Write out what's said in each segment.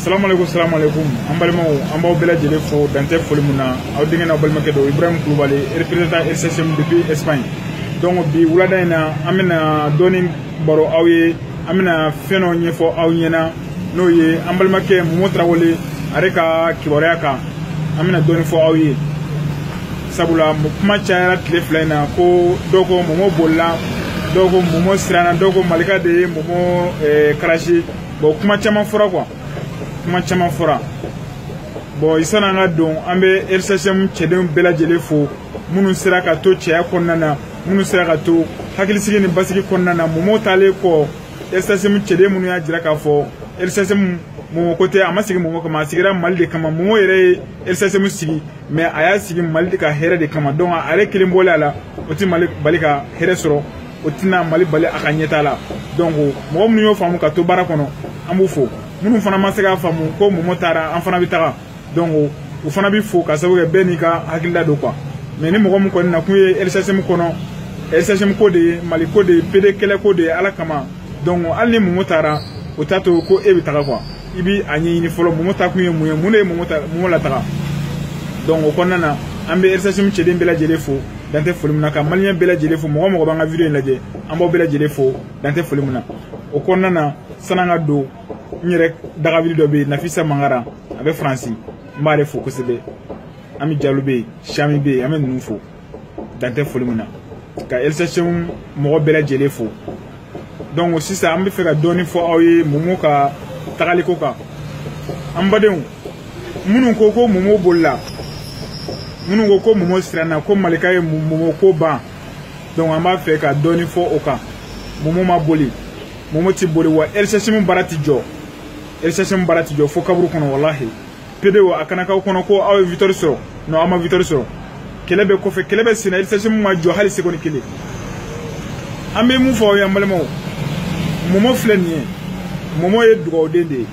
salamaleykum salamaleykum an balimaw an b'aw bɛɛ lajɛlen fo dantɛ foli min na aw denkɛ n'aw balimakɛ don ibrahim kulubali représentant lchm depuis espagne donc bi wulada in na an bɛna dɔɔni baro aw ye an bɛna fɛn dɔ ɲɛfɔ aw ɲɛna n'o ye an balimakɛ momo tarawele ale ka kibaruya kan an bɛna dɔɔni fɔ aw ye sabula kuma cayara tile fila in na ko dɔw ko momo bolila dɔw ko momo siranna dɔw ko malika de ye momo karasi bɔn kuma caman fɔra quoi kuma caman fɔra bɔn sani an ka don an bɛ lchm cɛdenw bɛɛ lajɛlen fo minnu sera ka to cɛya kɔnɔna na minnu sera ka to hakilisigi ni basigi kɔnɔna na mɔmɔ taalen kɔ lchm cɛden minnu y'a jira k'a fɔ lchm mɔmɔ ko tɛ a ma sigi mɔmɔ kama a sigira mali de kama mɔmɔ yɛrɛ ye lchm sigi mais a y'a sigi mali ka hɛrɛ de kama donc a yɛrɛ kelen bɔlen a la o tɛ mali bali ka hɛrɛ sɔrɔ o tɛna mali bali a ka ɲɛtaa la donc mɔgɔ minnu y'o faamu ka to baara kɔnɔ an b'u fo minnu fana ma se k'a faamu ko mɔmɔ taara an fana bɛ taga donc u fana bɛ fo ka sababu kɛ bɛɛ n'i ka hakilila don quoi mais ni mɔgɔ min kɔni na kun ye lchm kɔnɔ lchm ko de ye mali ko de ye pd kɛlɛ ko de ye ala kama donc hali ni mɔmɔ taara o t'a to ko e bɛ taga quoi i bi a ɲɛɲini fɔlɔ mɔmɔ taa kun ye mun ye mun de ye mɔmɔ ta mɔmɔ lataga donc o kɔnɔna na an bɛ lchm cɛden bɛɛ lajɛlen fo dantɛ foli min na ka maliyɛn bɛɛ lajɛlen fo mɔgɔ o mɔgɔ b'an ka video in lajɛ an b'aw bɛɛ lajɛlen fo dantɛ foli min na o kɔnɔna na san'an ka don n yɛrɛ dagabili dɔ bɛ yen nafisa mangara a bɛ faransi n b'ale fo kosɛbɛ an bɛ jalo bɛ yen siyami bɛ yen an bɛ ninnu fo dan tɛ foli min na ka lchm mɔgɔ bɛɛ lajɛlen fo donc sisan an b'a fɛ ka dɔɔni fɔ aw ye momo ka tagaliko kan an badenw minnu ko ko momo bolila minnu ko ko momo siranna ko malika ye momo ko ban donc an b'a fɛ ka dɔɔni fɔ o kan momo ma boli momo ti boli wa lchm baara ti jɔ lchm baara ti jɔ fo kaburu kɔnɔ walahi pedew a kana k'aw kɔnɔ ko aw ye victoire sɔrɔ non aw ma victoire sɔrɔ kɛlɛ bɛ kɔfɛ kɛlɛ bɛ senna lchm ma jɔ hali sekondi kelen an bɛ mun fɔ aw ye an balimaw mɔmɔ filɛ nin ye mɔmɔ ye dugawuden de ye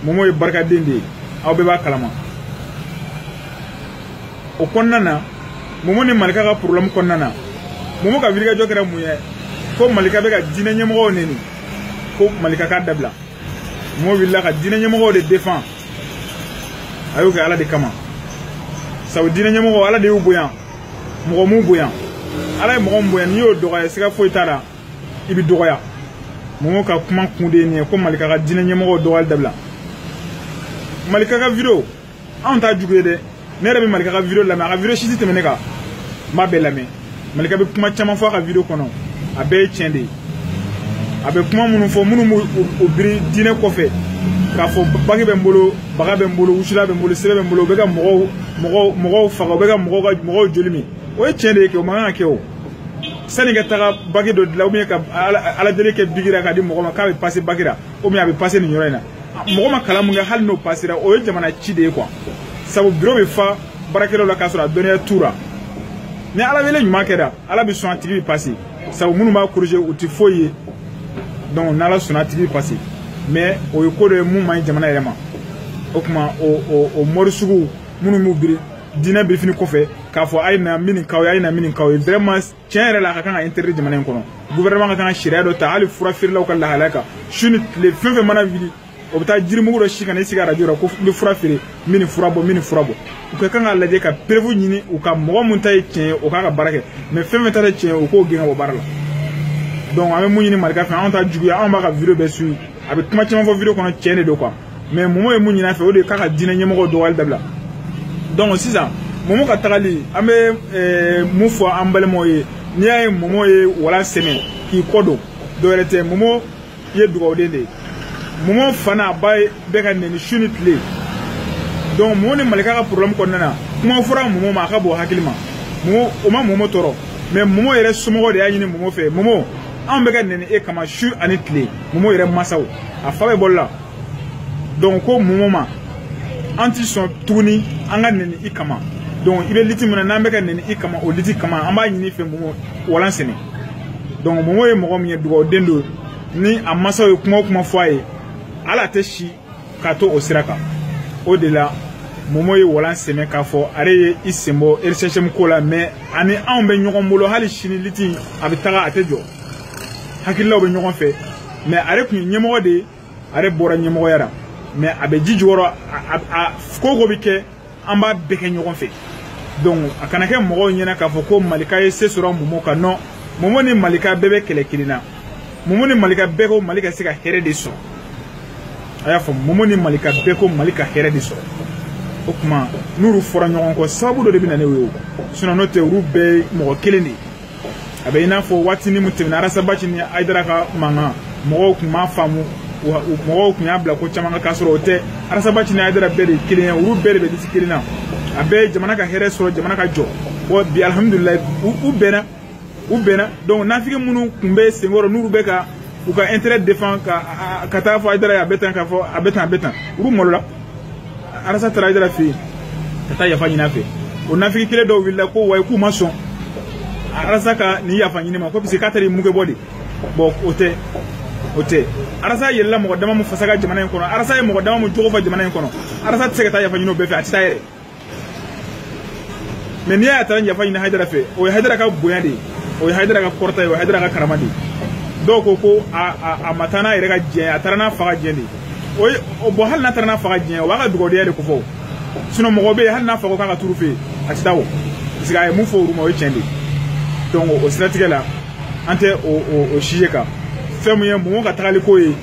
mɔmɔ ye barikaden de ye aw bɛɛ b'a kalama o kɔnɔna na mɔmɔ ni malika ka problème kɔnɔna na mɔmɔ ka wilikajɔ kɛra mun ye ko malika bɛ ka diinɛ ɲɛmɔgɔw neni ko malika k'a dabila mɔmɔ wulila ka diinɛ ɲɛmɔgɔw de defan a y'o kɛ ala de kama sabu diinɛ ɲɛmɔgɔw ala de y'u bonya mɔgɔ m'u bonya ala ye mɔgɔ min bonya n'i y'o dɔgɔya siga foyi t'a la i bɛ dɔgɔya mɔmɔ ka kuma kun de ye nin ye ko malika ka diinɛ ɲɛmɔgɔw dɔgɔyali dabila malika ka video anw t'a jugu ye dɛ ne yɛrɛ bɛ malika ka video lamɛn a ka video si si tɛ tɛmɛ ne kan n b'a bɛɛ lamɛn malika bɛ kuma caman fɔ a ka video kɔnɔ a bɛɛ ye tiɲɛ de ye a bɛ kuma minnu fɔ minnu b'u biri diinɛ kɔfɛ k'a fɔ bagi bɛ n bolo baga bɛ n bolo wusulan bɛ n bolo siri bɛ n bolo u bɛ ka mɔgɔw mɔgɔw mɔgɔw faga u bɛ ka mɔgɔw ka mɔgɔw joli min o ye tiɲɛ de ye kɛ o man kan ka kɛ o sani ka taga bagi dɔ dilan ka ala deli kɛ biki la ka di mɔgɔ ma k'a bɛ pase baki la o a bɛ pase nin yɔrɔ in na mɔgɔ ma kalan mun kɛ hali n'o pasera o ye jamana ci de ye quoi sabu biro bɛ fa baarakɛlaw la k'a sɔrɔ a dɔnniya t'u la ni ala wele ɲuman kɛra ala bɛ sɔn a tigi bɛ pase sabu minnu b'a korije u tɛ foyi ye donc n'ala sɔnna a tigi bɛ pase mɛ o ye ko dɔ ye mun man ɲi jamana yɛrɛ ma o tuma o o o mɔri sugu minnu b'u biri diinɛ birifini kɔfɛ k'a fɔ a ye na n bɛ nin k'aw ye a ye na n bɛ nin k'aw ye vraiment tiɲɛ yɛrɛ la a ka kan ka interdit jamana in kɔnɔ gouvernement ka kan ka sariya dɔ ta hali fura feerelaw ka lahalaya kan su ni tile fɛn fɛn mana wuli o bɛ taa jirimugu dɔ si ka na i sigi arajo la ko n bɛ fura feere n bɛ nin fura bɔ n bɛ nin fura bɔ u ka kan k'a lajɛ ka preuve ɲini u ka mɔgɔ min ta ye tiɲɛ ye o k'a ka baara kɛ mɛ fɛn fɛn ta tɛ tiɲɛ ye u k'o gɛn ka bɔ baara la donc an bɛ mun ɲini malika fɛ anw t'a jugu ye anw b'a ka video bɛɛ suivi a bɛ kuma caman fɔ video kɔnɔ tiɲɛ de don quoi mɛ momo ye mun ɲin'a fɛ o de ye k'a ka diinɛ ɲɛmɔgɔw dɔgɔyali dabila donc sisan momo ka tagali an bɛ eh, mun fɔ an balimaw ye n'i y'a ye momo ye walan sɛmɛ k'i kɔ don dɔwɛrɛ tɛ momo ye dugawuden de ye momo fa n'a ba bɛ ka nɛni su ni tile donc momo ni malika ka problème kɔnɔna na kuma fɔra momo ma a ka bon hakili ma momo o ma momo tɔɔrɔ mɛ momo yɛrɛ somɔgɔ de y'a ɲini momo fɛ momo anw bɛ ka nɛni e kama su ani tile momo yɛrɛ masaw a fa bɛ bɔli la donc ko momo ma an ti sɔn tuguni an ka nɛni i kama donc i bɛ liti min na n'an bɛ ka nɛni i kama o liti kama an b'a ɲini i fɛ momo walan sɛmɛ donc momo ye mɔgɔ min ye dugawuden don ni a masaw ye kuma o kuma fɔ a ye ale tɛ se ka to o sira kan o de la momo ye walan sɛmɛ k'a fɔ ale ye i senbɔ rccm ko la mɛ a ni anw bɛ ɲɔgɔn bolo hali sini liti a bɛ taga a tɛ jɔ hakililaw bɛ ɲɔgɔn fɛ mɛ ale tun ye ɲɛmɔgɔ de ye ale bɔra ɲɛmɔgɔya la mɛ a bɛ ji jukɔrɔ a ko o ko bɛ kɛ an b'a bɛɛ kɛ ɲɔgɔn fɛ donc a kana kɛ mɔgɔw ɲɛna k'a fɔ ko malika ye se sɔrɔ momo kan non momo ni malika bɛɛ bɛ kɛlɛ kelen na momo ni malika bɛɛ ko mali ka se ka hɛrɛ de sɔrɔ a y'a fɔ momo ni malika bɛɛ ko mali ka hɛrɛ de sɔrɔ o tuma n'olu fɔra ɲɔgɔn kɔ sababu dɔ de bɛ na ni o ye sinon n'o tɛ olu bɛɛ ye mɔgɔ kelen de ye a bɛ i n'a fɔ waatini min tɛmɛna arasabati ni ayidara ka mankan mɔgɔw tun m'a faamu wa mɔgɔw tun y'a bila ko caman kan k'a sɔrɔ o tɛ arasabati ni ayidara bɛɛ de ye kelen ye olu bɛɛ de bɛ disi kelen na a bɛɛ ye jamana ka hɛrɛ sɔrɔ jamana ka jɔ wa bi alihamudulilayi u bɛnna u bɛnna donc nafigi minnu tun bɛ senkɔrɔ n'olu bɛ ka u ka intérêt défend ka ka taa fɔ ayidara ye a bɛ tan k'a fɔ a bɛ tan a bɛ tan olu malola arasa taara hayidara fɛ yen ka taa yafa ɲini a fɛ o naafigi kelen dɔw wulila ko wayi k'u ma sɔn arasa ka nin yafa ɲini ma ko parce que k'a taara i muge bɔ de bɔn o tɛ o tɛ arasa yɛlɛla mɔgɔ dama min fasa kan jamana in kɔnɔ arasa ye mɔgɔ dama min jogo fɔ jamana in kɔnɔ arasa tɛ se ka taa yafa ɲini o bɛɛ fɛ a tɛ taa yɛrɛ mɛ n'i y'a taara yafa ɲini hayidara fɛ o ye hayidara ka bonya de ye o ye hayidara ka kɔrɔta ye o ye hayidara ka karama de ye dɔw ko ko a a a ma taa n'a yɛrɛ ka diɲɛ a taara n'a fa ka diɲɛ de ye o ye o bɔn hali n'a taara n'a fa ka diɲɛ o b'a ka dugawudenya de kofɔ sinɔn mɔgɔ bɛ yen hali n'a fa k'a ka t'olu fɛ yen a tɛ taa o parce que a ye mun fɔ olu ma o ye tiɲɛ de ye donc o siratigɛ la an tɛ o o o sujet kan fɛn min ye mɔmɔ ka tagali ko ye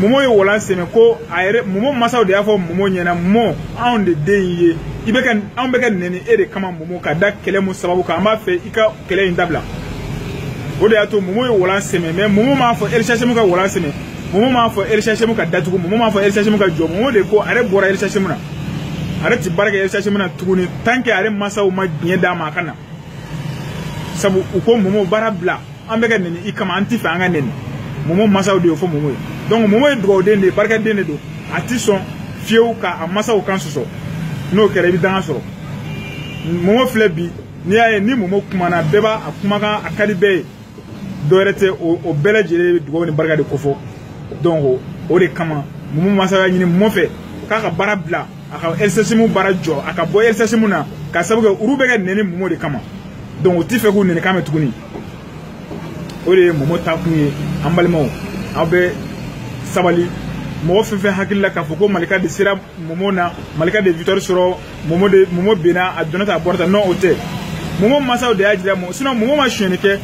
mɔmɔ ye walan sɛmɛ ko a yɛrɛ mɔmɔ masaw de y'a fɔ mɔmɔ ɲɛna mɔmɔ anw de den in ye i bɛ ka anw bɛ ka nɛni e de kama mɔmɔ ka da kɛlɛ mun sababu kan an b'a fɛ i ka kɛlɛ in dabila o de y'a to mɔmɔ ye walan sɛmɛ mɛ mɔmɔ m'a fɔ elisasɛmu ka walan sɛmɛ mɔmɔ m'a fɔ elisasemu ka datugu mɔmɔ m'a fɔ elisasemu ka jɔ mɔmɔ de ko ale bɔra elisasemu na ale ti baara kɛ elisasemu na tuguni tant que ale masaw ma diɲɛ d'a ma a ka na sabu u ko mɔmɔ baara bila an bɛ ka nɛni i kama an ti fɛ an ka nɛni mɔmɔ masaw de y'o fɔ mɔmɔ ye donc mɔmɔ ye dugawuden de ye barikaden de don a ti sɔn fiyewu ka a masaw kan sɔsɔ n'o kɛra i bɛ danga sɔrɔ mɔmɔ filɛ bi n'i y'a ye ni mɔmɔ kumana bɛɛ b'a a kumakan a ka di bɛɛ ye dɔwɛrɛ tɛ o bɛɛ lajɛlen bɛ dugawu ni barika de kofɔ donc o de kama mɔmɔ masaw y'a ɲini mɔmɔ fɛ k'a ka baara bila a ka elisasemu baara jɔ a ka bɔ elisasemu na ka sabu kɛ olu bɛ ka nɛni mɔmɔ de kama donc u ti fɛ k'u nɛni kan mɛn tuguni o de ye mɔmɔ ta kun ye an balimaw aw bɛ sabali mɔgɔ fɛn fɛn hakili la k'a fɔ ko malika de sera mɔmɔ na malika de ye victoire sɔrɔ momo de momo binna a donna tan a bɔra tan non o tɛ momo mansaw de y'a jira mɔgɔ sinon momo ma sonyani kɛ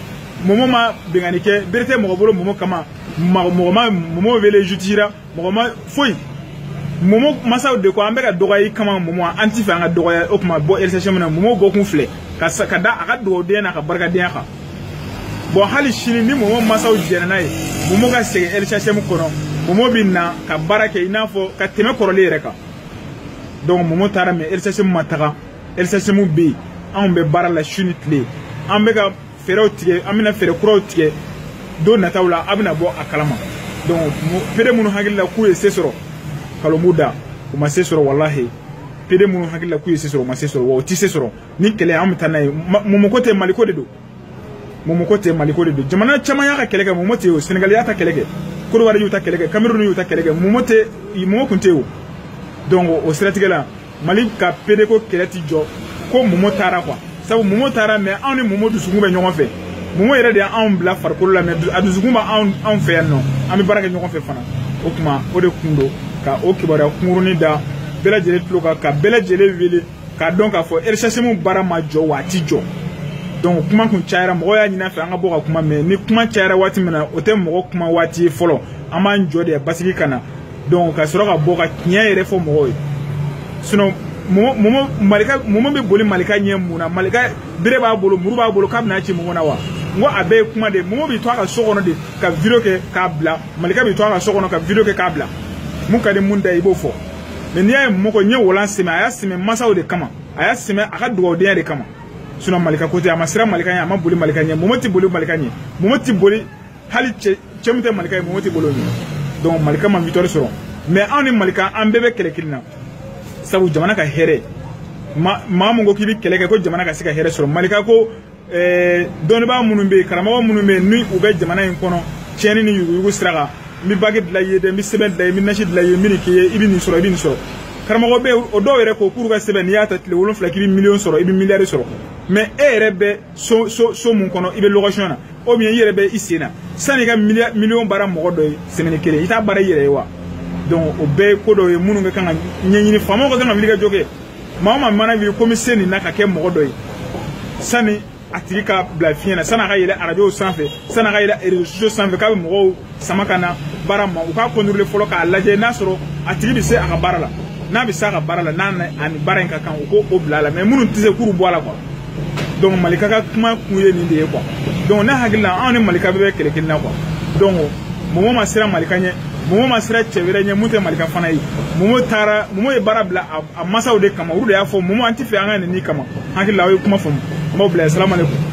momo ma binkanni kɛ bere tɛ mɔgɔ bolo momo kama mɔgɔ ma momo wele justice la mɔgɔ ma foyi momo mansaw de ko an bɛ ka dɔgɔya i kama momo an ti fɛ an ka dɔgɔya o tuma bɔ elisasemu na momo bɔkun filɛ ka sa ka da a ka dugawudenya n'a ka barikadenya kan bɔn hali sini ni momo mansaw jɛnna n'a ye momo ka segin elisasemu kɔnɔ momo bɛ na ka baara kɛ i n'a fɔ ka tɛmɛ kɔrɔlen yɛrɛ kan donc mɔmɔ taara mɛ elisɛsɛmu ma taga elisɛsɛmu bɛ yen anw bɛ baara la su ni tile an bɛ ka fɛɛrɛw tigɛ an bɛna fɛɛrɛ kuraw tigɛ don nataw la a bɛna bɔ a kalama donc pede minnu hakili la k'u ye se sɔrɔ kalon b'u da u ma se sɔrɔ walahi pede minnu hakili la k'u ye se sɔrɔ u ma se sɔrɔ wa u tɛ se sɔrɔ nin kɛlɛ an bɛ taa n'a ye mɔmɔko tɛ maliko de don momoko tɛ maliko de don jamana caman y'a ka kɛlɛ kɛ momo tɛ o sɛnɛgali y'a ta kɛlɛ kɛ kɔdiwari y'u ta kɛlɛ kɛ kameruni y'u ta kɛlɛ kɛ momo tɛ momo kun tɛ o donc o siratigɛ la mali ka pedeko kɛlɛ ti jɔ ko momo taara quoi sabu momo taara mais anw ni momo dusukun bɛ ɲɔgɔn fɛ momo yɛrɛ de y'anw bila farikolo la mais a dusukun bɛ anw anw fɛ yan nɔ an bɛ baara kɛ ɲɔgɔn fɛ fana o tuma o de kun don ka o kibaruya kunkurunin da bɛɛ lajɛlen tulo kan ka bɛɛ lajɛlen wele k'a dɔn k'a fɔ eresɛsimu baara ma jɔ wa a ti jɔ donc kuma kun cayara mɔgɔ y'a ɲin'an fɛ an ka bɔ ka kuma mais ni kuma cayara waati min na o tɛ mɔgɔ kuma waati ye fɔlɔ an b'an jɔ de basigi ka na donc ka sɔrɔ ka bɔ ka tiɲɛ yɛrɛ fɔ mɔgɔw ye sinon momo malika momo bɛ boli malika ɲɛ mun na malika bere b'a bolo muru b'a bolo k'a bɛna ci mun na wa n ko a bɛɛ ye kuma de momo bɛ to a ka so kɔnɔ de ka video kɛ k'a bila malika bɛ to a ka so kɔnɔ ka video kɛ k'a bila mun ka di mun da i b'o fɔ mais n'i y'a ye momo ye walan sɛmɛ a y'a sɛmɛ masaw de kama a y'a sɛmɛ a ka dugawudenya de kama sinon malika ko tɛ a ma siran malika ɲɛ a ma boli malika ɲɛ momo tɛ boli malika ɲɛ momo tɛ boli hali cɛ cɛ min tɛ malika ye momo tɛ boli o ɲɛ donc malika ma victoire sɔrɔ mais anw ni malika an bɛɛ bɛ kɛlɛ kelen na sabu jamana ka hɛrɛ maa min ko k'i bɛ kɛlɛ kɛ ko jamana ka se ka hɛrɛ sɔrɔ malika ko ɛɛ dɔnnibaa minnu bɛ yen karamɔgɔ minnu bɛ yen ni u bɛ jamana in kɔnɔ tiɲɛni ni yuguyugu sira kan n bɛ bagi dilan i ye dɛ n bɛ sɛbɛn dilan i ye n bɛ nasi dilan i ye n bɛ nin k'i ye i bɛ nin sɔrɔ i bɛ nin sɔrɔ karamɔgɔ bɛ yen o dɔw yɛrɛ ko k'u ka sɛbɛn n'i y'a ta tile wolonfila k'i bɛ miliyɔn sɔrɔ i bɛ miliyari sɔrɔ mais e yɛrɛ bɛ so so so mun kɔnɔ i bɛ location na ou bien i yɛrɛ bɛ i sen na sanni i ka miliyɔn baara mɔgɔ dɔ ye semaine kelen i t'a baara i yɛrɛ ye wa donc o bɛɛ ye ko dɔw ye minnu ka kan ka ɲɛɲini faamaw ka kan ka wuli ka jɔ kɛ maa o maa mana b'i ko n bi se nin na ka kɛ mɔgɔ dɔ ye sani a tigi ka bila fiɲɛ na san'a ka yɛlɛ arajow sanfɛ san'a ka yɛlɛ réseaux sociaux sanfɛ k'a bɛ mɔgɔw sama ka na baara ma u k'a contrôler fɔlɔ k'a lajɛ n'a sɔrɔ a tigi bɛ se a ka baara la n'a bɛ se a ka baara la n'a ni baara in ka kan u k'o bila a la mais minnu tɛ se k'u bɔ a la quoi donc malika ka kuma kun ye nin de ye quoi donc ne hakili la anw ni malika bɛɛ bɛ kɛlɛ kelen na quoi donc momo ma siran malika ɲɛ momo ma siran cɛ wɛrɛ ɲɛ mun tɛ malika fana ye momo taara momo ye baara bila a masaw de kama olu de y'a fɔ momo an tɛ fɛ an ka nɛni i kama hakili la aw ye kuma faamu n b'aw bila yen salamalekun